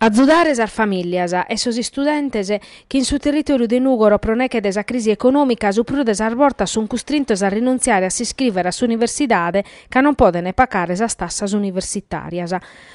Azudare sas famìllias e sos istudentes chi in su territòriu de Nùgoro pro neghe de sa crisi econòmica su prus de sas bortas sunt custrintos a rinuntziare a s'iscrìvere a s'universidade ca non podent pagare sas tassas universitàrias.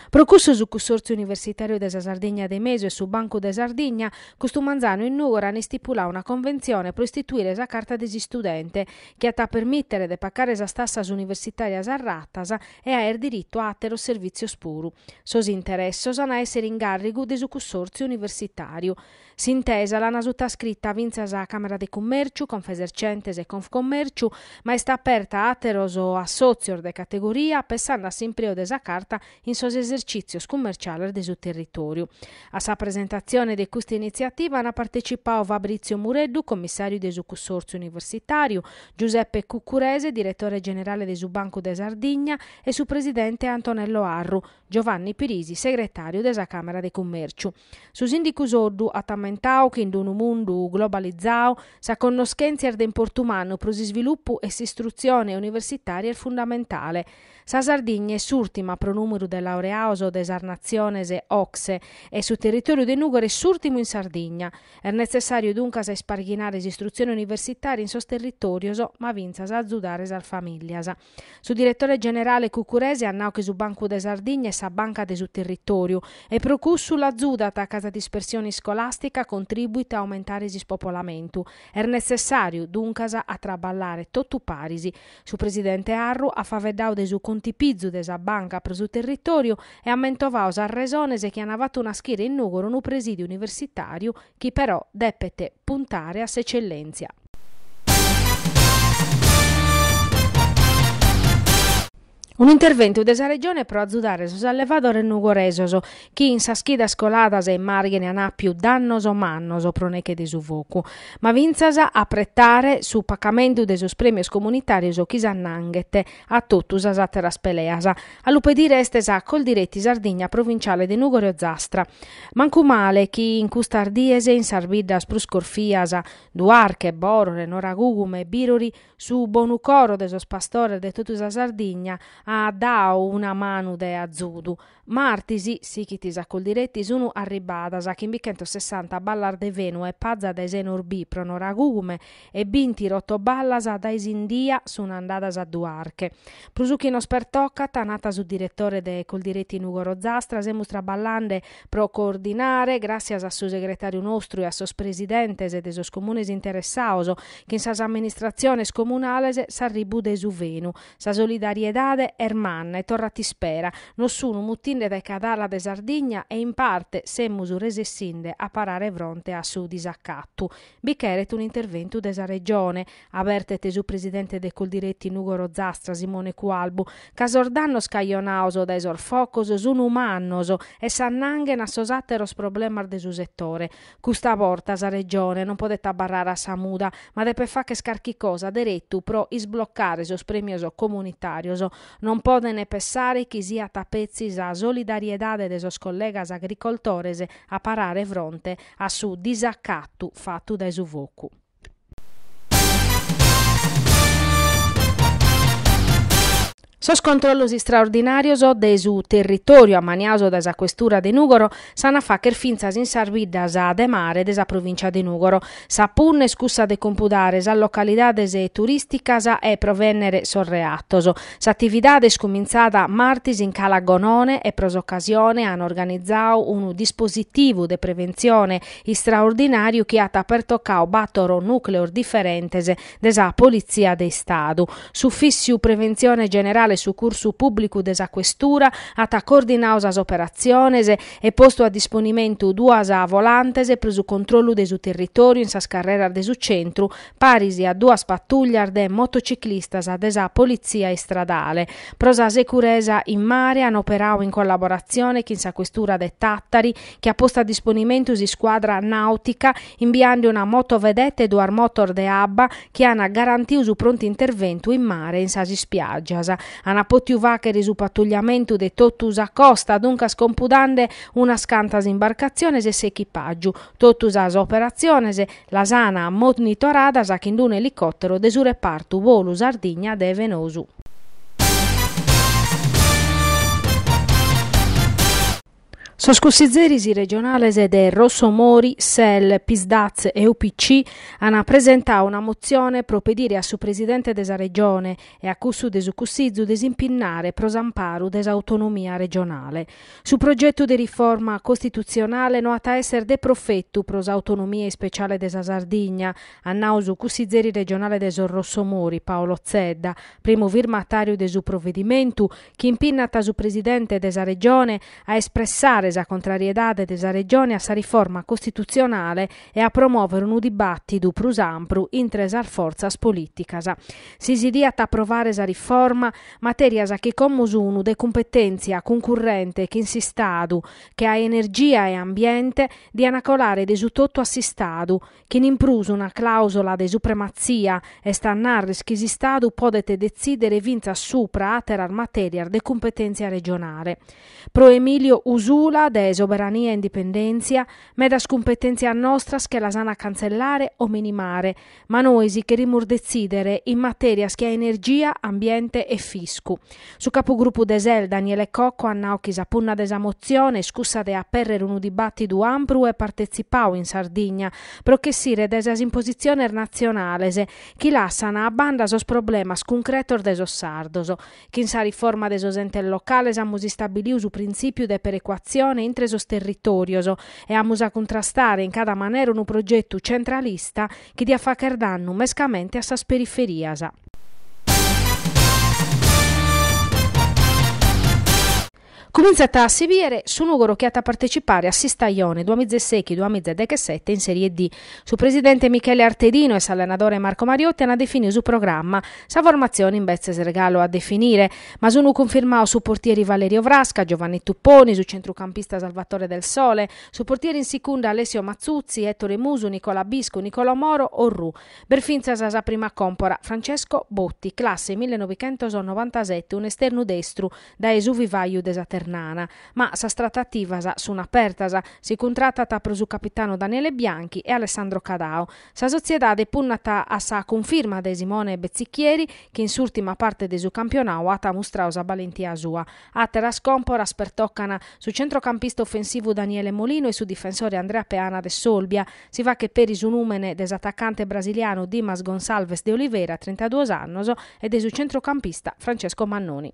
Pro cussu su Cussòrtziu Universitàriu de sa Sardigna de Mesu e su Bancu de Sardigna custu manzanu in Nùgoro ant istipuladu una conventzione pro istituire sa Carta de s'Istudente chi at a permìtere de pagare sas tassas universitàrias a ratas e aer diritu a àteros servìtzios puru. Sos interessos an a èssere in gàrrigu de su cussòrtziu universitàriu. S'intesa l'ana sutascrita fintzas sa Càmera de Cummèrciu, Confesercentes e Confcommèrciu, ma est aperta a àteros assòtzios de categoria, pessande a s'impreu de sa Carta in sos esercìtzios cummerciales de su territòriu. A sa presentatzione de custa initziativa an partecipadu Fabrizio Mureddu, commissàriu de su cussòrtziu universitàriu, Giuseppe Cuccurese, diretore generale de su Bancu de Sardigna, e su presidente Antonello Arru, Giovanni Pirisi, segretàriu de sa Càmera de Cummèrciu. Su sìndicu Soddu at ammentadu chi in unu mundu globalizadu sa connoschèntzia est de importu mannu pro s'isvilupu e s'istrutzione universitària est fundamentale. Sa Sardigna est s'ùrtima pro nùmeru de laureados de sas natziones OCSE e su territòriu de Nùgoro est s'ùrtimu in Sardigna. Est netzessàriu duncas a isparghinare s'istrutzione universitària in sos territòrios, ma fintzas a azudare sas famìllias. Su diretore generale Cuccurese at nau chi su Bancu de Sardigna est sa banca de su territòriu e pro cussu l'azudat ca sa dispersione iscolàstica contribuit a aumentare s'ispopolamentu. Est netzessàriu, duncas, a traballare totu paris Su presidente Arru at faeddadu de su contipizu de sa banca pro su territòriu e at mentovadu sas resones chi ant fatu naschire in Nùgoro unu presìdiu universitàriu chi però depet puntare a s'eccellèntzia. Un'interventu de sa Regione pro azudare sos allevadores nugoresos chi in sas chidas coladas in Màrghine an àpiu dannos mannos pro neche de su focu, ma fintzas apretare su pacamentu de sos prèmios comunitàrios chi s'annanghet a totu sas àteras peleas. A lu pedire est sa Coldiretti Sardigna provinciale de Nùgoro e Ozastra. Mancu male chi in custas dies in sas biddas prus corfias, Duarche, Bòrore, Noragùgume e Bìrori, su bonu coro de sos pastores de totu sa Sardigna at dadu una manu de azudu, Martis, sighit sa Coldiretti, sunu arribbadas chimbichentos sessanta ballas de fenu e paza dae Senorbì pro Noragùgume e binti rotoballas dae Sindia sun andadas a Duarche. Pro su chi nos pertocat, nat su diretore de Coldiretti Nùgoro Ozastra, semus traballande pro coordinare, gràtzias a su segretàriu nostru e a sos presidentes de sos comunes interessados chin sas amministratziones comunales s'arribbu de su fenu, Sa solidariedade est manna e torrat ispera. Nos sun mutinde dae cadala de Sardigna e in parte semus resessinde a parare fronte a su disacatu. Bi cheret un'interventu de sa Regione, abertet su presidente de Coldiretti Nugoro Zastra Simone Cualbu, ca sos dannos cajonados dae sos focos sun mannos e s'annanghen a sos àteros problemas de su setore. Custa borta sa Regione non podet abarrare a sa muda, ma depet fagher carchi cosa deretu pro isblocare sos prèmios comunitàrios. Non podent pensare chi siat a petzi sa solidariedade de sos collegas agricoltores a parare fronte a su disacatu fatu dae su focu. Sos controllos istraordinàrios de su territòriu ammaniados dae sa Questura de Nùgoro s'ant a fàghere fintzas in sas biddas de mare de sa provìncia de Nùgoro. Sa punna est cussa de compudare sas localidades turìsticas e provènnere sos reatos. S'atividade est cumintzada martis in Cala Gonone e pro s'ocasione ant organizadu unu dispositivu de preventzione istraordinàriu chi at pertocadu bàtoro nùcleos diferentes de sa Politzia de Istadu. S'Ufìssiu Preventzione Generale e Sucursu Pùblicu de sa Questura at coordinadu sas operatziones e postu a disponimentu duas volantes pro su controllu de su territòriu in sas carreras de su centru, paris a duas patùllias de motociclistas de sa Politzia Istradale. Pro sa seguresa in mare an operadu in collaboratzione chin sa Questura de Tàtari, chi at postu a disponimentu s'iscuadra nàutica imbiende una motovedeta e duas motos de abba chi ant garantiu su prontu interventu in mare e in sas ispiàgias. Ant pòtiu fàghere su patugliamentu de totu sa costa, duncas compudende unas cantas imbarcatziones e s'echipàgiu. Totu sas operatziones las an monitoradas chin unu elicòteru de su repartu Volu Sardigna de Fenosu. Sos cussizeris regionales de Rossomori, Sel, Psd'Az e UPC an presentadu una motzione pro pedire a su presidente de sa Regione e a cussu de su Cussizu de s'impinnare pro s'amparu de s'autonomia regionale. Su progetu de riforma costitutzionale no at a èssere de profetu pro s'autonomia ispeciale de sa Sardigna, at nau su cussizeri regionale de sos Rossomori, Paolo Zedda, primu firmatàriu de su provedimentu, chi impinnat su Presidente de sa Regione a espressare sa contrariedade de sa Regione a sa riforma costitutzionale e a promòvere unu dibàtidu prus ampru intre sas fortzas polìticas. Si si diat aprovare sa riforma, matèrias chi como sunu de cumpetèntzia cuncurrente chin s'Istadu, che a Energia e Ambiente, diana colare de su totu a s'Istadu, Chin in prus una clausola de suprematzia, est a narris chi s'Istadu podet detzidere fintzas supra àteras matèrias de cumpetèntzia regionale. Pro Emiliano Usula de Soberania e Indipendèntzia, medas cumpetèntzias nostras che las an a cantzellare o minimare, ma nois cherimus detzidere in matèrias che a energia, ambiente e fiscu. Su capugrupu de SEL, Daniele Cocco, at nau chi sa punna de sa motzione est cussa de apèrrere unu dibàtidu ampru e partetzipau in Sardigna pro ch'essire dae sas impositziones natzionales chi lassana a banda sos problemas cuncretos de sos sardos. Chin sa riforma de sos entes locales amus istabiliu su printzìpiu de perecuatzione intre sos territòrios e amus a cuntrastare in cada manera unu progetu centralista Chi diat fàchere dannu mescamente a sas periferias. Cumintzat a si bìere su Nùgoro chi at a partecipare a s'istajone duamila e sèghi duamila e dechesete in Serie D. Su presidente Michele Artedinu e s'allenadore Marco Mariotti ant definiu su programma, sa formatzione imbetzes est galu a definire. Ma sunt cunfirmaos su portieri Valerio Frasca, Giovanni Tupponi, su centrucampista Salvatore Del Sole, Su portieri in sicunda Alessio Mazzuzzi, Ettore Musu, Nicola Biscu, Nicola Moro, Orrù. B'est fintzas sa prima còmpora, Francesco Botti, classe millenovichentosnovantaseti, un'esternu destru dae su vivàiu de sa Ternana. Ma sas tratativas sunt apertas, si cuntratat pro su capitanu Daniele Bianchi e Alessandro Cadao. Sa sotziedade punnat a sa cunfirma de Simone Bezzicchieri, chi in s'ùrtima parte de su campionau at mustrau sa balentia sua. Àteras còmporas pertocan su centrocampista ofensivu Daniele Molino e su difensore Andrea Peana de s'Olbia. Si faghet peri su nùmene de s'atacante brasilianu Dimas Gonçalves de Oliveira, trintaduos annos, e de su centrocampista Francesco Mannoni.